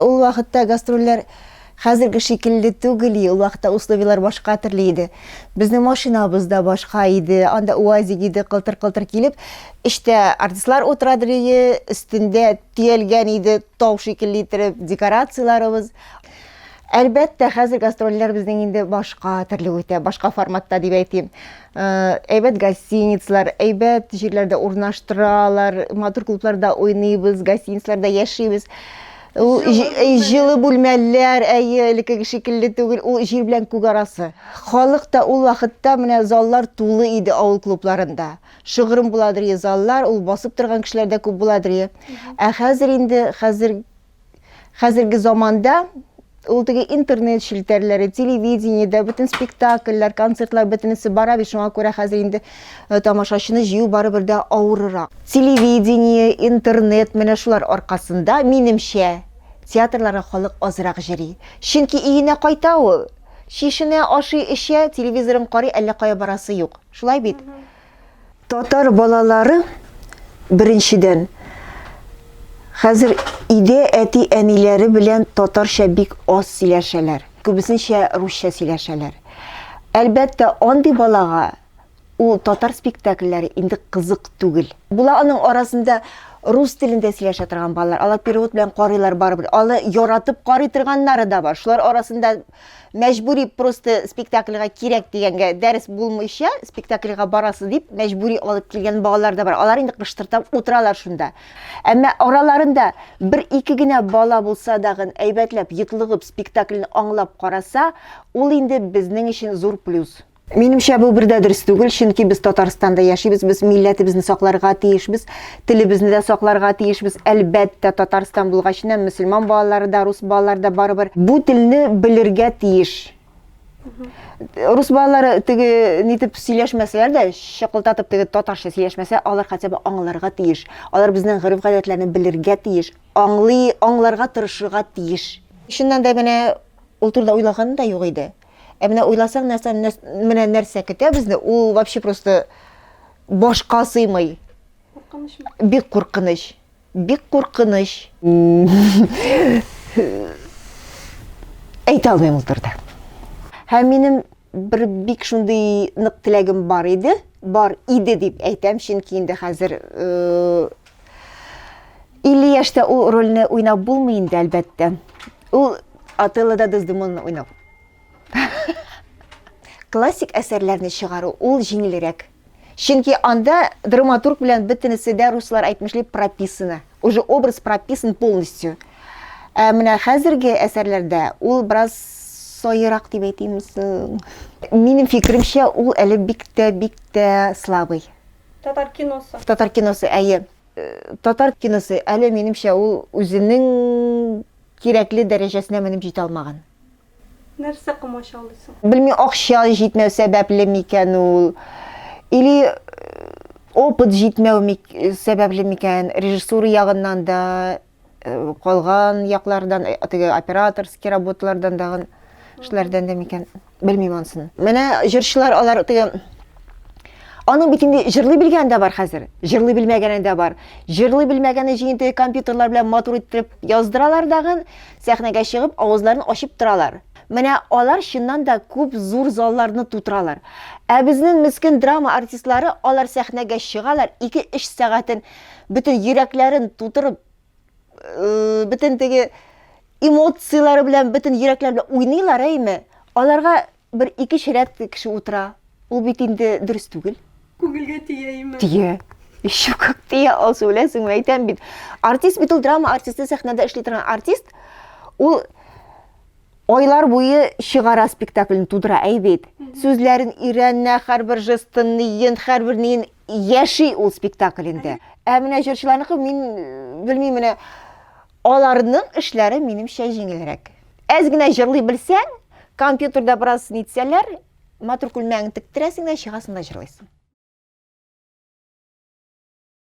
Ул вакытта гастрольләр хәзерге шикелле түгел и, ул вакытта условияләр башка төрле иде. Безнең машинабыз да башка иде, анда УАЗик иде, кылтыр-кылтыр килеп, эчтә артистлар утыра дрие, өстендә төялгән иде тау шикелле иттереп декорацияләребез. Әлбәттә, хәзер гастрольләр безнең инде башка төрле үтә, башка форматта дип әйтим. әйбәт гостиницлар әйбәт җирләрдә урнаштыралар матур клубларда уйныйбыз гостиницларда яшибез ул җылы бүлмәләр әйе элеккеге шикелле түгел ул җир белән күк арасы халык та ул вакытта менә заллар тулы иде авыл клубларында шыгрым буладыр заллар ул басып торган кешеләр дә күп буладыр ә хәзер инде хәзер хәзерге заманда ул теге интернет челтәрләре, телевидениедә бөтен спектакльләр, концертлар бөтенесе бара бит, шуңа күрә хәзер инде э, тамашачыны җыю барыбер дә авырырак. Телевидение, интернет менә шулар аркасында, минемчә, театрларга халык азрак җыри. Чөнки өенә кайта ул, чишенә, ашый, эчә, телевизорын карый, әллә кая барасы юк. Шулай бит? Татар балалары, беренчедән, хәзер өйдә әти-әниләре белән татарча бик аз сөйләшәләр, күбесенчә русча сөйләшәләр. Әлбәттә, андый балага ул татар спектакльләре инде кызык түгел. Була аның арасында рус телендә сөйләшә торган балалар, алар перевод белән карыйлар барыбер, аны яратып карый торганнары да бар, шулар арасында мәҗбүри просто спектакльга кирәк дигәнгә дәрес булмыйча спектакльга барасы дип мәҗбүри алып килгән балалар да бар алар инде кыштырдап утыралар шунда әмма араларында бер ике генә бала булса дагын әйбәтләп йотлыгып спектакльне аңлап караса ул инде безнең өчен зур плюс Минемчә, бу бер дә дөрес түгел, чөнки без Татарстанда яшибез, без милләтебезне сакларга тиешбез, телебезне дә сакларга тиешбез. Әлбәттә, Татарстан булгач, нәм мөселман балалары да, рус балалары да барыбер бу телне белергә тиеш. Рус балалары теге нитеп сөйләшмәсәләр дә, чыкылтатып теге татарча сөйләшмәсә, алар хотя бы аңларга тиеш. Алар безнең гореф-гадәтләрне белергә тиеш, аңлый, аңларга тырышырга тиеш. Чыннан да менә ул турыда уйлаганым да юк иде. Ә менә уйласаң, нәрсә менә нәрсә көтә безне? Ул вообще просто башка сыймый. Куркынычмы? Бик куркыныч. Бик куркыныч. Әйтә алмыйм ул турыда. Һәм минем бер бик шундый нык теләгем бар иде, бар иде дип әйтәм, чөнки инде хәзер э, 50 яшьтә ул рольне уйнап булмый инде, әлбәттә. Ул Отеллода Дездемонны уйнау. Классик әсәрләрне чыгару ул җиңелрәк. Чөнки анда драматург белән бөтенесе дә руслар әйтмешли прописаны. Уже образ прописан полностью. Ә менә хәзерге әсәрләрдә ул бераз саерак дип әйтимме соң? Минем фикеремчә, ул әле бик тә, бик тә слабый. Татар киносы. Татар киносы, әйе. Татар киносы, әле минемчә ул үзенең кирәкле дәрәҗәсенә менеп җитә алмаган. Нәрсә комачаулый соң? Белмим, акча җитмәү сәбәпле микән ул? Или опыт җитмәү сәбәпле микән? Режиссура ягыннан да, Калган яклардан, теге операторский работалардан дагын эшләрдән дә микән, белмим ансын. Менә җырчылар алар теге Аның бит инде җырлый белгән дә бар хәзер, җырлый белмәгәне дә бар. Җырлый белмәгәне өчен инде компьютерлар белән матур иттереп яздыралар дагын, сәхнәгә чыгып, авызларын ачып торалар. Менә алар чыннан да күп зур залларны тутыралар. Ә безнең мескен драма артистлары, алар сәхнәгә чыгалар, 2-3 сәгатен бөтен йөрәкләрен тутырып э, бөтен теге эмоцияләре белән бөтен йөрәкләр белән уйныйлар әйме аларга бер ике ширәт кеше утыра ул бит инде дөрес түгел күңелгә тия име тия еще как тия алсу беләсеңме әйтәм бит артист бит ул драма артисты сәхнәдә эшли торган артист ул Ойлар буе чыгара спектакльне тудыра әйбит. Сүзләрен өйрәнә, һәрбер жестын, ниен, һәрбер ниен яши ул спектаклендә. Ә менә җырчыларныкы мин белмим менә аларның эшләре минемчә җиңелрәк. Әз генә җырлый белсәң, компьютерда бераз нитсәләр, матур күлмәгеңне тектерәсең дә чыгасың да җырлыйсың.